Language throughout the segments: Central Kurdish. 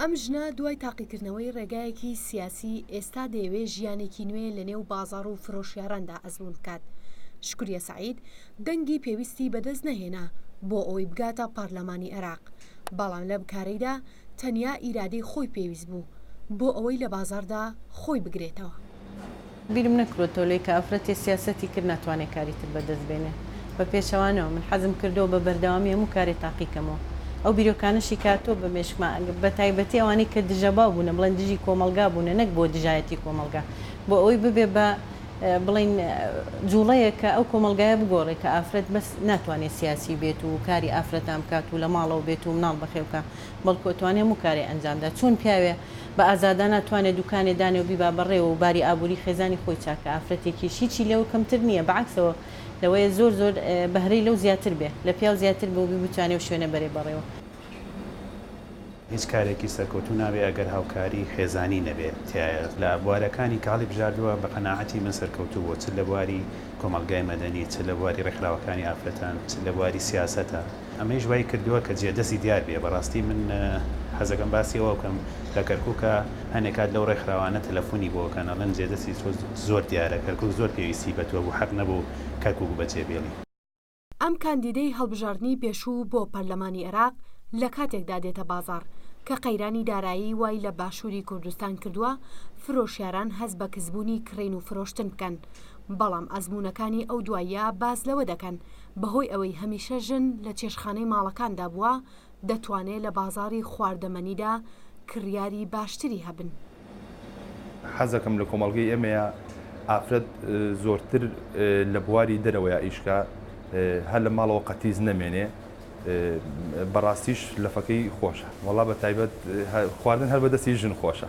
ئەم ژنە دوای تاقیکردنەوەی ڕێگایەکی سیاسی ئێستا دەیەوێ ژیانێکی نوێ لە نێو بازار و فرۆشیاراندا ئەزمون بکات. شکوریە سەعید دەنگی پێویستی بەدەست نەهێنا بۆ ئەوەی بگاتە پارلەمانی عێراق، بەڵام لەم کارەیدا تەنیا ئیرادەی خۆی پێویست بوو بۆ ئەوەی لە بازاردا خۆی بگرێتەوە. بیرم نەکروە تۆلەی کە ئافرەتێ سیاسەتی کرد ناتوانێ کاری تر بەدەست بێنێ بە پێچەوانەوە من حەزم کردوە بە بەردەوامی هەموو کارێ تاقی کەمەوە ئەو بیرۆکانەشی کە هاتوە بە مێشکما ئەگە بە تایبەتی ئەوانەی کە دژە باو بونە بڵێن دژی کۆمەڵگا بونە نەک بۆ دژایەتی کۆمەڵگا بۆ ئەوەی ببێ بە بڵێین جوڵەیەک کە ئەو کۆمەڵگایە بگۆڕێ کە ئافرەت بەس ناتوانێ سیاسی بێت و کاری ئافرەتان بکات و لە ماڵەوە بێت و مناڵ بەخێو کا. بەڵکو ئەتوانێ هەموو کارێ ئەنجام دا چۆن پیاوێ بە ئازادانە توانێ دوکانێ دانێ و بیبا بەڕێوە و باری ئابووری خێزانی خۆی چاک کا ئافرەتێکیش هیچی لەوە کەمتر نییە بە عەکسەوە لەوەیە زۆر زۆر بەهرەی لەو زیاتر بێ لە پیاو زیاتر بێ و بی بتوانێ و شوێنە بەرێ بەڕێوە. هیچ کارێکی سەرکەوتوو نابێ ئەگەر هاوکاری خێزانی نەبێ تیایە لە بوارەکانی کە هەڵیبژاردووە بە قەناعەتی من سەرکەوتوو بووە چ لە بواری کۆمەڵگای مەدەنی چ لە بواری ڕێکخراوەکانی ئافرەتان چ لە بواری سیاسەتا. ئەمەیش وای کردووە کە جێدەستی دیار بێ، بەڕاستی من حەزەکەم باسی ئەوە بکەم لە کەرکوکا هەنێ کات لەو ڕێکخراوانە تەلەفونی بۆ ئەکەن ئەڵێن جێدەستی تۆ زۆر دیارە کەرکوک زۆر پێویستی بە تۆ بوو حەق نەبوو کەرکوک بە جێ بێڵی. ئەم کاندیدەی هەڵبژاردنی پێشوو بۆ پەرلەمانی عێراق لە کاتێکدا دێتە بازاڕ کە قەیرانی دارایی وای لە باشووری کوردستان کردووە فرۆشیاران هەست بە کزبوونی کڕین و فرۆشتن بکەن بەڵام ئەزموونەکانی ئەو دواییە باس لەوە دەکەن بەهۆی ئەوەی هەمیشە ژن لە چێشتخانەی ماڵەکاندا بووە، دەتوانێت لە بازاڕی خواردەمەنیدا کڕیاری باشتری هەبن. حەزەکەم لە کۆمەڵگەی ئێمەیە ئافرەت زۆرتر لە بواری دەرەوەیا ئیشکا هەر لە ماڵەوە قەتیس نەمێنێ بەڕاستیش لەفەکەی خۆشە وەڵا بە تایبەت خواردن هەر بە دەستی ژن خۆشە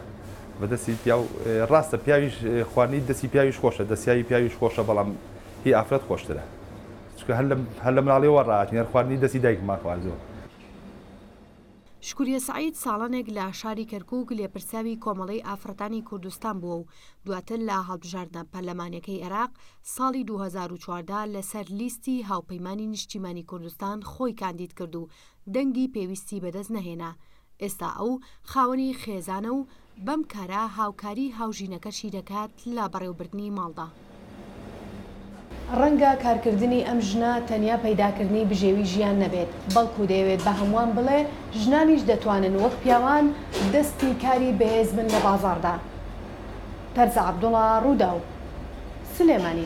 بە دەستی پیاو ڕاستە پیاویش خواردنی دەستی پیاویش خۆشە دەسیایی پیاویش خۆشە بەڵام هی ئافرەت خۆشترە چکە هەر لەم هەر لە مناڵیەوە ڕاتین هەر خواردنی دەستی دایکمان خواردووە. شکوریە سەعید ساڵانێک لە شاری کەرکووک لێپرسراوی کۆمەڵەی ئافڕەتانی کوردستان بووە و دواتر لە هەڵبژاردنە پەرلەمانیەکەی عێراق ساڵی دوو هەزار و چواردە لەسەر لیستی هاوپەیمانی نیشتیمانی کوردستان خۆی کاندیدکرد و دەنگی پێویستی بەدەست نەهێنا ئێستا ئەو خاوەنی خێزانە و بەم کارە هاوکاری هاوژینەکەشی دەکات لە بەڕێوەبردنی ماڵدا. ڕەنگە کارکردنی ئەم ژنە تەنیا پەیداکردنی بژێوی ژیان نەبێت، بەڵکو دەیەوێت بە هەمووان بڵێ ژنانیش دەتوانن وەک پیاوان دەستی کاری بەهێز بن لە بازاڕدا. تەرزە عەبدوڵا، ڕووداو، سلێمانی.